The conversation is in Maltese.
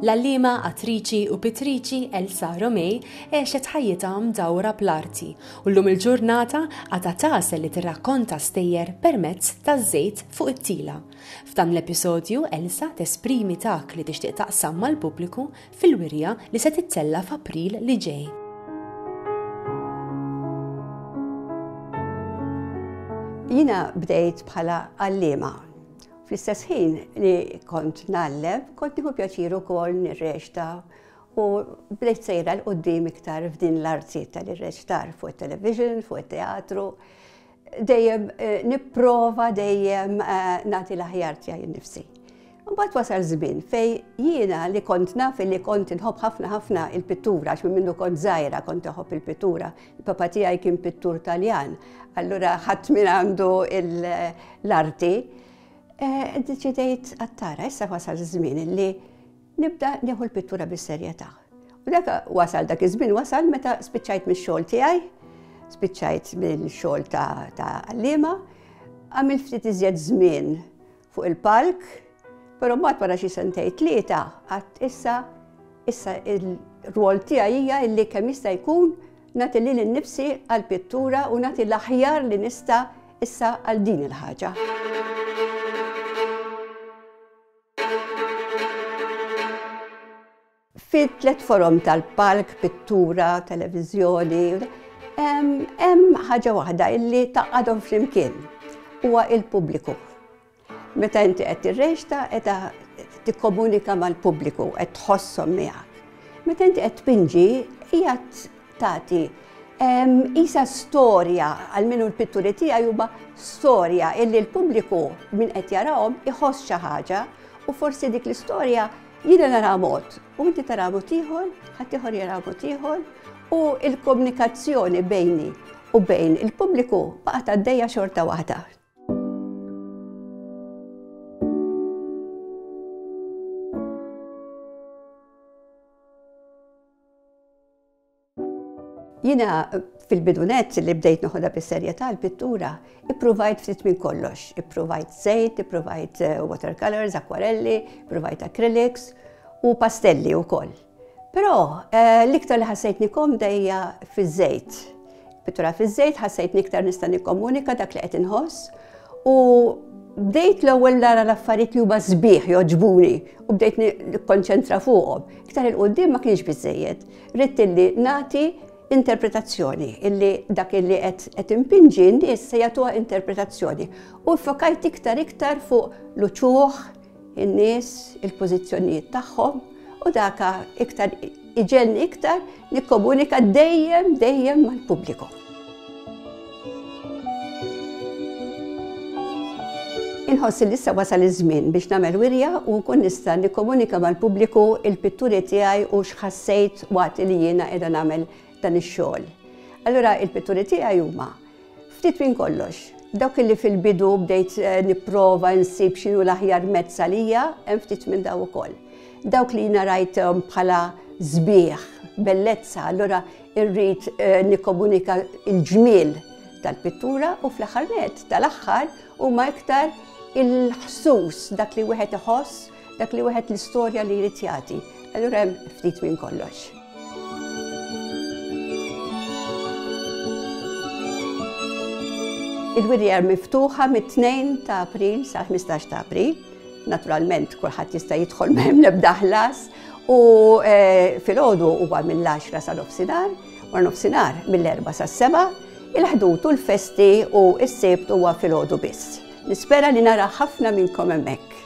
L-għalliema, attriċi u pittriċi Elsa Romej għexet ħajjitha mdawra bl-arti u llum il-ġurnata għadha tagħsel li tirrakkonta stejjer permezz taż-żejt fuq it-tila. F'dan l-episodju Elsa tesprimi dak li tixtieq taqsam mal-pubbliku fil-wirja li se tittella' f'April li ġej. Jiena bdejt bħala għalliema. Fl-istess ħin li kont nallem, kont nieħu pjaċir ukoll nirreċta u bdejt sejra l-qoddim iktar f'din l-arti tal-irreċtar fuq it-television, fuq it-teatru. Dejjem nipprova dejjem nagħti l-aħjar tiegħi nnifsi. Mbagħad wasal żmien fej jiena li kont naf li kont inħobb ħafna ħafna il-pittura għax minn minnu kont żgħira kont iħobb il-pittura. Il-papa tiegħi kien pittur Taljan, allura ħadd minn għandu l-arti. Deċidejt għattara, issa wasal żmien li Nibda nieħu l-pittura bis-serjetà. U dak wasal dak iż-żmien wasal meta spiċċajt mix-xogħol tiegħi, spiċċajt mill-xogħol ta' għalliema, għamilt ftit iżjed żmien fuq il-palk, però mbagħad wara xi sentej tlieta qatt issa issa il-rwol tiegħi hija illi kemm jista' jkun nagħti lil innifsi għall-pittura u nagħti l-aħjar li nista' issa għal din il-ħaġa. Fit-tliet forom tal-palk, pittura, televiżjoni, hemm ħaġa waħda li tgħaqqadhom flimkien, huwa l-pubbliku. Meta inti qed tirreċta qiegħda tikkomunika mal-pubbliku, qed tħosshom miegħek. Meta inti qed tpinġi qiegħed tagħti qisha storja għal min hu l-pitturi tiegħi huma storja illi l-pubbliku min qed jarahom iħoss xi ħaġa u forsi dik l-istorja jiena nara mod u inti tara mod ieħor, ħadd ieħor jara mod ieħor u l-komunikazzjoni bejni u bejn il-pubbliku baqgħet għaddejja xorta waħda. Jiena fil-bidu nett li bdejt noħodha bis-serjetà l-pittura, ippruvajt ftit minn kollox. Ippruvajt żejt, ippruvajt eh, watercolors, akwarelli, ippruvajt acrylics u pastelli wkoll. Però eh, l-iktar li ħassejtni komdejja fiż-żejt. Pittura fiż-żejt ħassejtni iktar nista' nikkomunika dak li qed inħoss u bdejt l-ewwel nara l-affarijiet li huma sbieħ joġbuni u bdejt nikkonċentra fuqhom. Iktar il-qudiem ma kienx biżejjed. Ridt illi nagħti interpretazzjoni illi dak illi qed impinġi n-nies se jagħtuha interpretazzjoni. U ffokajt iktar iktar fuq l-uċuħ, in-nies, il-pożizzjonijiet tagħhom u daka iktar iġenni iktar nikkomunika dejjem dejjem mal-pubbliku. Inħoss li issa wasal iż-żmien biex nagħmel wirja u nkun nista' nikkomunika mal-pubbliku il-pitturi tiegħi u x'ħassejt waqt li jiena qiegħda nagħmel dan ix-xogħol. Allura il-pitturi tiegħi huma Ftit minn kollox. Dawk li fil-bidu bdejt nipprova nsib x'inhu l-aħjar mezz għalija, hemm ftit minn dawn ukoll. Dawk li jiena rajthom bħala sbieħ, bellezza, allura rrid nikkomunika l-ġmiel tal-pittura u fl-aħħar nett tal-aħħar huma iktar il-ħsus, dak li wieħed iħoss Dak li wieħed l-istorja li jrid jagħti, allura hemm ftit minn kollox. Il-wirjer miftuħa mit-2 ta' April sa' 15 ta' April. Naturalment kulħadd jista' jidħol m'hemm nebda ħlas u eh, fil-ħodu huwa mill-10 sa' nofsinhar, u nofsinhar mill-4 sa' 7, il-ħdut u l-festi u s-sebt huwa fil-ħodu biss. Nispera li nara ħafna minnkom hemmhekk.